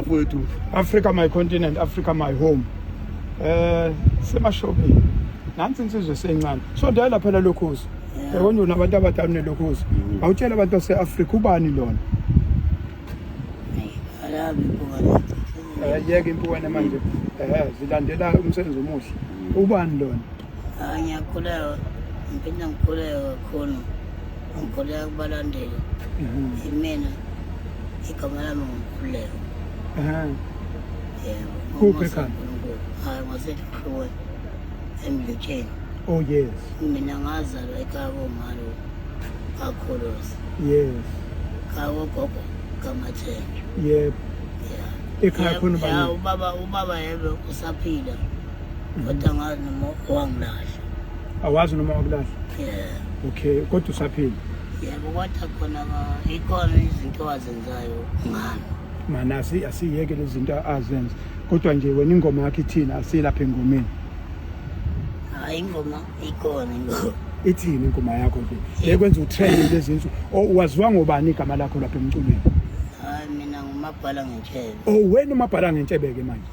mfowethu Africa my continent Africa my home eh semashopini nansi insizwe sencane so dala phela lokhozi yabona una abantu abadala nelokhozi mm. awutshela abantu base Africa ubani lona alabi bukana eh yeke impukane manje eh zilandela umsebenzi omuhle mm. ubani lona Ah, ngiyakhuleka ngiphinde ngikhuleke kakhulu ngikhuleka kubalandeli imina igama lami ngikhuleka yebo Kuphi ekhanda? uNkulunkulu. hayi ngwasehlukweni emlutsheni oh yes mina ngazalwa ekhaya komalo kakhuluzi yes khaya kogogo kamathenjwa yebo ya Ekhaya khona ubani? ya ubaba ubaba yebe usaphila Kodwa ngazi noma wangilahla. Awazi noma wakulahla? Yeah. Okay, kodwa usaphila. Yebo kodwa khona ikhona izinto azenzayo ngami. Mana asi asiyeke lezi zinto azenza. Kodwa nje wena ingoma yakhe ithina asilapha engomeni. Hayi ingoma ikhona ingoma. Ithini ingoma yakho nje? Bekwenza utrend lezi zinto. Waziwa ngobani igama lakho lapha emculweni? Hayi mina ngumabhala ngentshebe. Oh wena umabhala ngentshebe ke manje.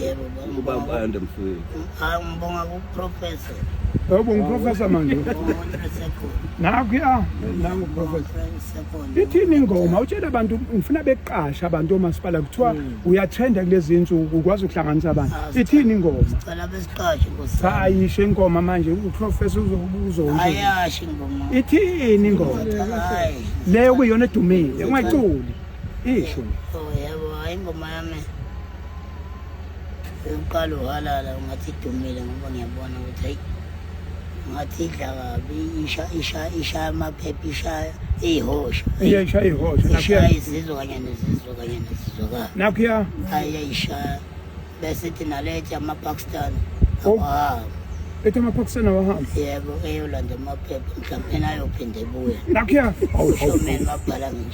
Yebo ubaba ubaba ayonde mfowethu hayi ngibonga kuprofessor Yebo ngiprofessor manje. umuntu sekhona Nakho ya nangu professor. friend sekhona Ithini ingoma utshela abantu ngifuna beqasha abantu omasipala kuthiwa uyatrenda kulezi insuku ukwazi ukuhlanganisa abantu. Ithini ingoma? cela besiqashe nkosi Cha ayisho ingoma manje uprofessor uzokuzonje. ayashi ngoma Ithini ingoma? hayi Leyo kuyona edumile ungaculi. Isho. oh yebo hayi ingoma yami uqala uhalala ungathi idumile ngoba ngiyabona ukuthi hayi ngathi idla kabi isha isha isha amaphepha isha iyihosha iyisha iyihosha isha izizwe kanye nezizwe kanye nezizwekazi nakhuya hayi yayisha bese ithi nalethi amapakistan oh. awahamba ethi amapakistan awahamba yebo eyolanda amaphepha mhlawumbe nayophinde ebuye nakhuya awushomeni babhala ngisho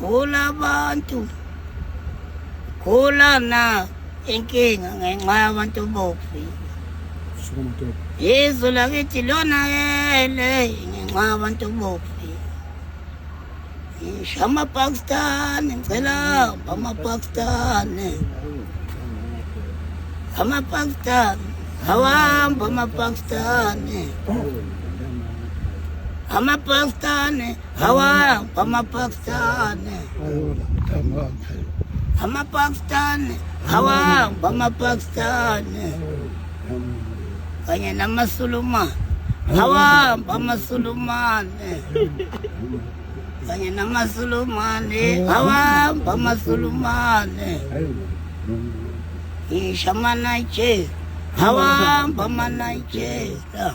Gula abantu. Gula na inkinga ngenxa yabantu bofi. Shukuma tebe. Yesu lakithi lona yele ngenxa yabantu bofi. Ngisho amapakistani ngicela amapakistani amapakistani awahamba amapakistani amapakistani Hawa bamapakistani. Amapakistani. Hawa bamapakistani. Kanye namasulumane. Hawa bamasulumane. Kanye namasulumane. Hawa bamasulumane. Ishamana che. Hawa bamanaijela.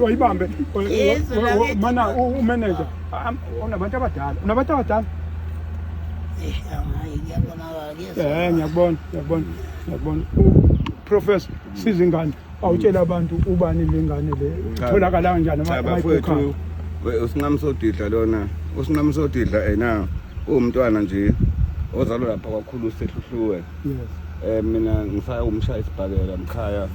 wayibambe mana umeneja unabantu abadala unabantu abadala um ngiyakubona ngiyakubona ngiyakubona professor sizingane awutshela abantu ubani lengane le itholakala kanjani amayiphukha usinqamsodidla lona usinqamsodidla ena uwumntwana nje ozalwa lapha kwakhulu sehluhluwe yes eh mina ngisaya umshaya isibhakela mkhaya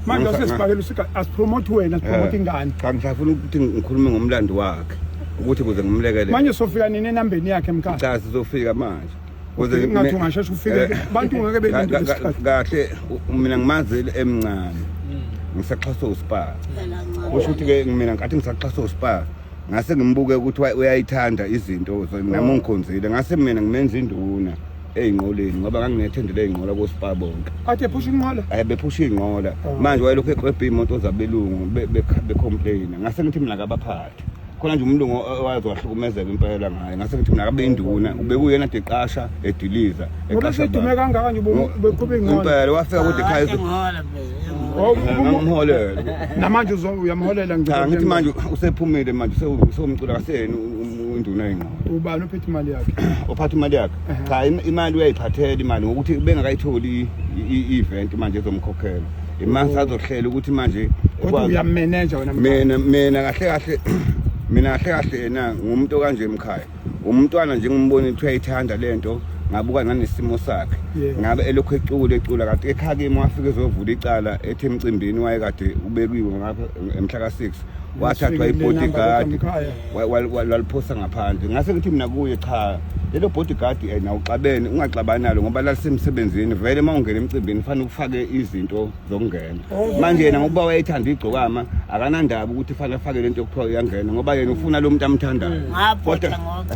manje usesibhakela usika asipromote wena sipromote eh, ingane cha ngisafuna ukuthi ngikhulume ngomlando wakhe ukuthi kuze ngimlekelele manje sofika nini enambeni yakhe mkhaya cha sizofika manje Kuze ngathi ungasheshe ufike eh, abantu ngeke belinde isikhathi. Kahle mina ngimazi emncane. Hmm. Ngisaxhasa uSpar. Kusho ukuthi ke mina ngathi ngisaxhasa uSpar. Ngase ngimbuke ukuthi uyayithanda izinto nami oh. ngikhonzile. Ngase mina ngimenza induna. eyinqoleni ngoba nganginethendele eyinqola koSpar bonke. Athe phusha inqola? Eh bephusha inqola. Oh. Manje wayelokhu eqwebha imoto zabelungu becomplaina. Ngase ngithi mina kabaphali. khona nje umlungu owaze wahlukumezeka impela ngaye ngase ngithi mina kabe induna ubekuyena de qasha ediliza eqasha udume kangaka nje beqhube ingqondo impela wafika kude ekhaya ngimholele namanje uyamholela ngicela ngithi manje usephumile manje usewumcula kaseni induna yengqondo ubani uphethe imali yakhe uphatha imali yakhe cha imali uyayiphathela imali ngokuthi bengakayitholi i-event manje ezomkhokhela Imani oh. sazohlela ukuthi manje kodwa uyamenenja wena mina mina kahle kahle mina kahle kahle yena ngumuntu kanje emkhaya umntwana nje ngimbona ukuthi uyayithanda lento ngabuka nanesimo sakhe ngabe elokhu ecula ecula kanti ekhakimi wafike ezovula icala ethi emcimbini wayekade ubekiwe ngapha emhla ka-6 wathathwa ibodyguard waliphosa ngaphandle ngase ngithi mina kuye cha lelo bodyguard eh, na uxabene ungaxabani nalo ngoba lalisemsebenzini vele uma ungena emcimbini fanele ufake izinto zokungena oh. manje yena ngoba wayethanda igcokama akanandaba ukuthi fanele afake lento yokuthiwa uyangena ngoba yena ufuna lo muntu amthandayo kodwa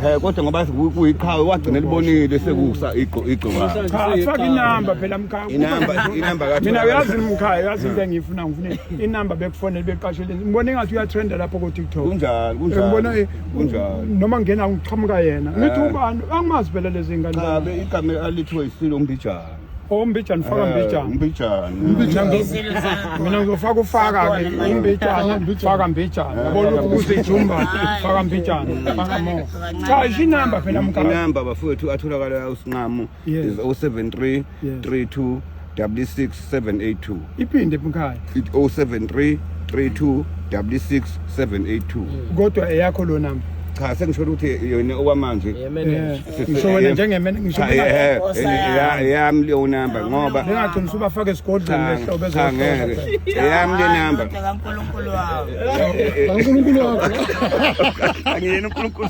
eh kodwa ngoba kuyiqhawe wagcina libonile sekusa igcokama cha faka inamba phela mkhaya inamba inamba kathi mina uyazi mkhaya uyazi into engiyifuna ngifuna inamba bekufonele beqasheleni ngibona engathi uyatrenda lapho ko-tiktok kunjalo kunjalo ngibona eh, kunjalo noma ngena ngiqhamuka yena Eh. ngithi ubani angimazi phela lezi ngane cha be igama alithiwe isilo umbijana ombijana faka Eh, mbijana umbijana Umbijana. Ngizelo zakho. mina ngizofaka ufaka-ke Akhona, imbijana Mbijana. faka mbijana Eh, yabona faka ukuthi ijumba Hayi, faka mbijana faka mo Kancane, cha isho inamba phela mkaka inamba bafowethu atholakala usinqamo Yes. is 073 Yes. 32 66 782 iphinde mkhaya It 073 32 66 782 kodwa eyakho lo number cha sengisholo ukuthi yona okwamanje Yeah, man. Eh, Sisi- ngisho wena eh, njengemmene ngisho cha, benga- eh, eh, ya- yami leyo number ngoba bengagcina usubafaka esigodlweni cha, lehlobo cha, ezohlola ngeke yami le number kaNkulunkulu wawo uNkulunkulu wakho angiyena uNkulunkulu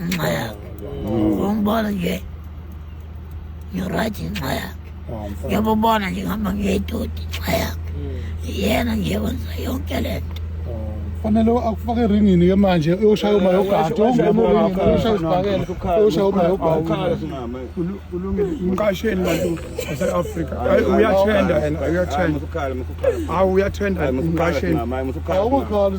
ngenxa yakhe umbona nje ngirayithi ngenxa yakhe ngiyabubona nje ngihamba ngiyedodi ngenxa yakhe yena nje wenza yonke le nto fanele akufake eringini ke manje uyoshaya uma yogadi uyoshaya uma yogadi umqasheli bantu base-afrika uyathenda yena uyathenda awu uyathenda umqasheli awukakhali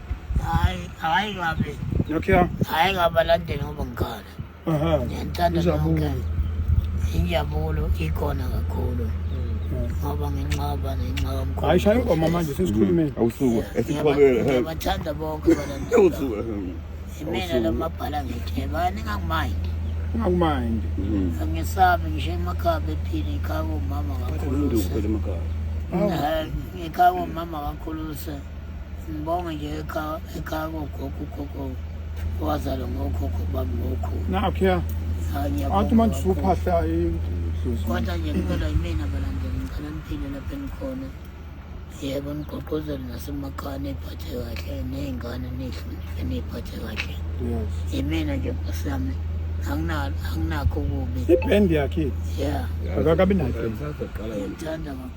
Hayi, hayi ngabe. Okay. Hayi ngabalandeli ngoba ngikhala. Aha. Ngiyantanda nonke. Injabulo ikhona kakhulu. Ngoba nginqaba ngenxa yomkhulu. Hayi shaya ingoma manje sesikhulumeni. Awusuku esixolele. Ngiyabathanda bonke abalandeli. Awusuku. Imina lomabhala ngitheba ningakumayindi. Ungakumayindi. Angesabi ngisho emakhaya bephila ikhaya komama kakhulu. Ngikhaya komama kakhulu. Sibonge nje ekhaya ekhaya kogogo ugogo owazalwa ngokhokho bami ngokhulu. Nakho ya. Athi manje usuphahla idlozi. Kodwa nje kuphela yimina balandela ngicela niphile lapha engikhona. Yebo nigqogqozele nasemakhaya niyiphathe kahle ney'ngane nihloniphe niyiphathe kahle. Yes. Yimina nje nkosi yami anginakho kubi. Ibhendi yakhe. Yeah. Akakabi nayo. Ngithanda kakhulu.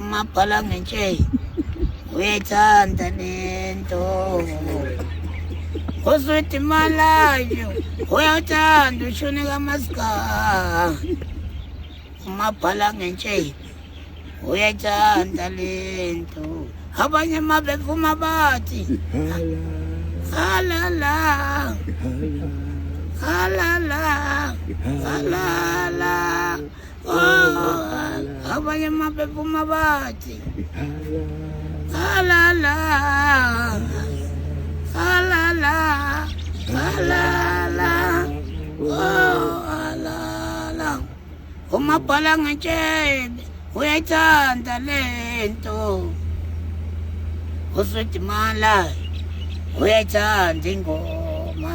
umabhala ngentsheyi uyayithanda lento uswidi malayo uyawuthanda ushuni kamasika umabhala ngentsheyi uyayithanda lento abanye uma bevuma bathi halala halala halala abanye mabephuma bathi halala halala halala halala umabhala ngetshebe uyayithanda le nto usudimala uyayithanda ingoma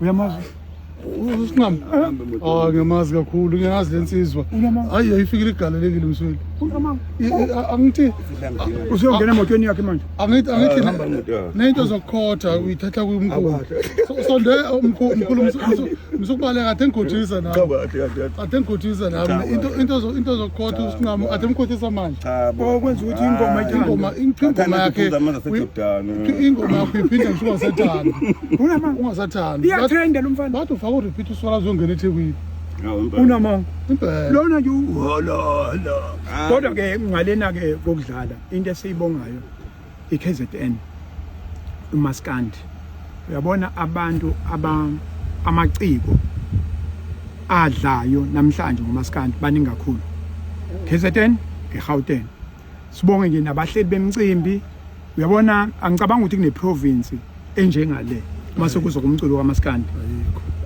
uyamazi usinqami ah ngiyamazi kakhulu ngiyazi lensizwa hayi ayifikile igalelekile msweli angithi usuyongena emotweni yakhe manje angithi angithi ah, nento zokukhotha uyithatha kumkhulu sonde umkhulu msukubaleka athe ngikhothisa nami athe ngikhothisa nami into into into zokukhotha usinqami athe ngikhothisa manje cha bo okwenza ukuthi ingoma Ah, ingoma ingoma Bathanda yakhe ukuphuza amanzi aseJordani. uyi- ingoma yakho iphinde ngisho ungasathandi Unama- ungasathandi iyatrenda lo mfana bathi ufaka urepeat uswala azongena ethekwini Hawu, impela. unamanga impela lona nje uhololo Ah. kodwa ke ngalena ke kokudlala into esiyibongayo iKZN umaskandi uyabona abantu aba amaciko adlayo namhlanje ngomaskandi baningi kakhulu KZN eGauteng sibonge nje nabahleli bemcimbi uyabona angicabanga ukuthi kune province enjengale uma sekuzo kumculo kamaskandi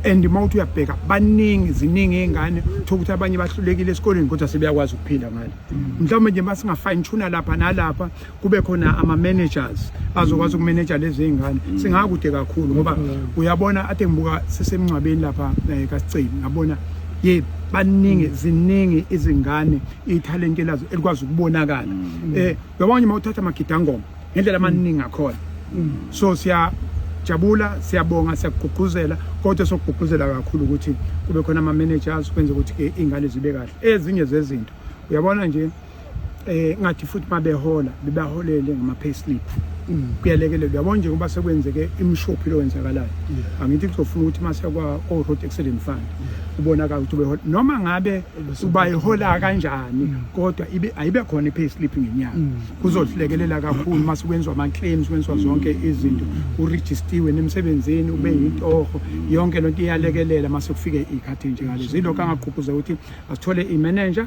and uma uthi uyabheka baningi ziningi iy'ngane thola ukuthi abanye bahlulekile esikoleni kodwa sebeyakwazi ukuphila ngale mm. mhlawumbe nje uma singa-fine tuna lapha nalapha kube khona ama-managers azokwazi ukumeneja lezi ngane mm. singakude kakhulu ngoba mm. uyabona ade ngibuka sisemngcwabeni lapha eh, kasiceli ngabona ye baningi mm. ziningi izingane ithalente lazo elikwazi ukubonakala um eh, uyabona nje uma uthatha amagidangoma ngendlela amaningi akhona so siya jabula siyabonga siyakugqugquzela kodwa sokugqugquzela kakhulu ukuthi kube khona ama-managers kwenze ukuthi-ke iy'ngane zibe kahle ezinye zezinto uyabona nje eh ngathi futhi mabehola bebaholele ngama payslip mm. kuyalekelela yabona nje ngoba sekwenzeke imshophi lowenzakalayo angithi kuzofuna ukuthi mase kwa o road accident fund ubonaka ukuthi behola noma ngabe ubayihola kanjani mm. kodwa ibe ayibe khona i payslip ngenyanga mm. kuzodlekelela kakhulu mase kwenzwa ama claims kwenzwa zonke izinto uregistiwe nemsebenzini ube yintoho yonke lonto iyalekelela mase kufike ikhathi nje ngalezo ilokho angaqhuphuza ukuthi asithole i manager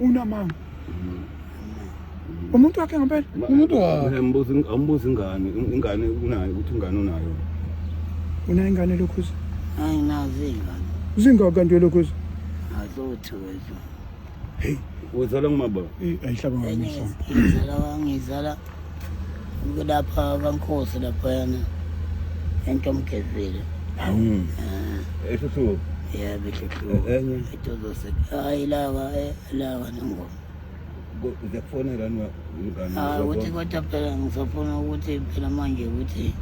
unamanga umuntu wakhe ngempela umuntu wakhe ambuza ambuza ingane ingane unayo ukuthi ingane unayo unayo ingane lokhuza hayi nazi ingane zingaka kanti lokhuza azothu wethu hey uzala ngumababa ayihlaba ngami ngizala ngizala kulapha kaNkosi laphayana entomgezile mm. ah. ehluhluko yebo ehluhluko e-, enye edozose hayi laka e-, laka nengoma ngiyakufonela ah, ukuthi kodwa phela ngisafuna ukuthi phela manje ukuthi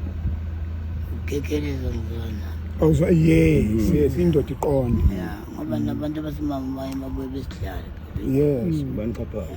ukekheleza ngizona awuzwa yes mm. yes indoda iqonde ngoba nabantu abasimama baye babuye besidlale yes mm. banixhaphayo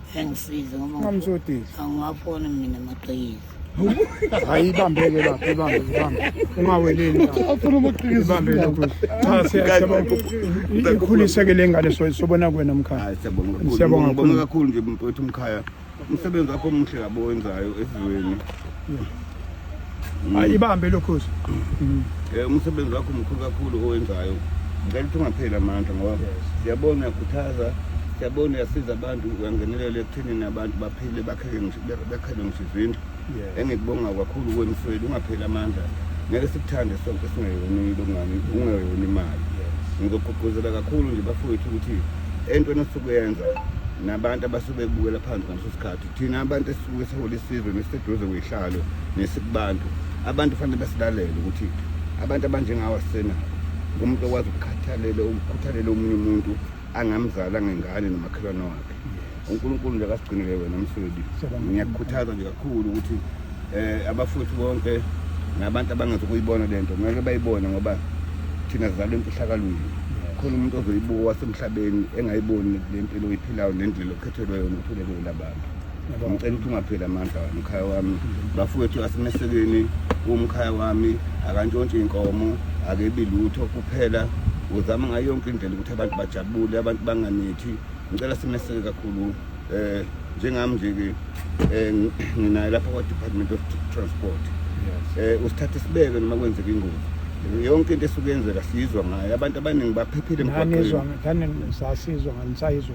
engisize ngoba Ungamsodisi. angiwafoni mina amaqhikiza Hayi ibambeke lapho ibambe ibambe. Ungaweleli lapho. Afuna amaqhikiza. Ibambe lokho. Cha siyacela ukuthi ikhulise ke lengane so sobona kwena mkhaya. Hayi siyabonga kakhulu. Siyabonga Ngibonga kakhulu. kakhulu nje mfowethu umkhaya. Umsebenzi wakho omuhle kabi owenzayo esizweni. hayi ibambe lokhozi um eh, umsebenzi wakho mkhulu kakhulu owenzayo ngicela ukuthi ungapheli amandla ngoba siyabona uyakhuthaza siyabona uyasiza abantu uyangenelela ekuthenini abantu baphile bakhele ngisho izindlu engikubonga kakhulu kwemsweli ungapheli amandla ngeke sikuthande sonke singeyoni longani ungeyoni imali ngizogqugquzela kakhulu nje bafowethu ukuthi entweni osuke yenza nabantu abasuke bebukela phansi ngaleso sikhathi thina abantu esisuke sihola isizwe nesiseduze kwihlalo nesikubantu abantu fanele basilalele ukuthi abantu abanjengawo asena umuntu okwazi ukukhathalela ukukhuthalela omunye umuntu angamzala ngengane nomakhelwane wakhe unkulunkulu nje akasigcinele wena msweli ngiyakukhuthaza nje kakhulu ukuthi um abafowethu bonke nabantu abangazi ukuyibona le nto kumele bayibone ngoba thina zizalwa emfihlakalweni khona umuntu ozoyibuka wasemhlabeni engayiboni le mpilo oyiphilayo nendlela Thelwe yona uthule kuyo labantu. Ngicela ukuthi ungapheli amandla wami umkhaya wami. Bafowethu asimesekeni umkhaya wami akantshontshe inkomo akebi lutho kuphela uzama ngayo yonke indlela ukuthi abantu bajabule abantu banganithi ngicela simeseke kakhulu eh njengami nje ke eh, nginaye lapha kwa Department of Transport eh usithathe sibeke noma kwenzeka ingozi yonke into esukuyenzeka siyizwa ngayo abantu abaningi baphephile emgwaqweni ngane sasizwa nganisayizwa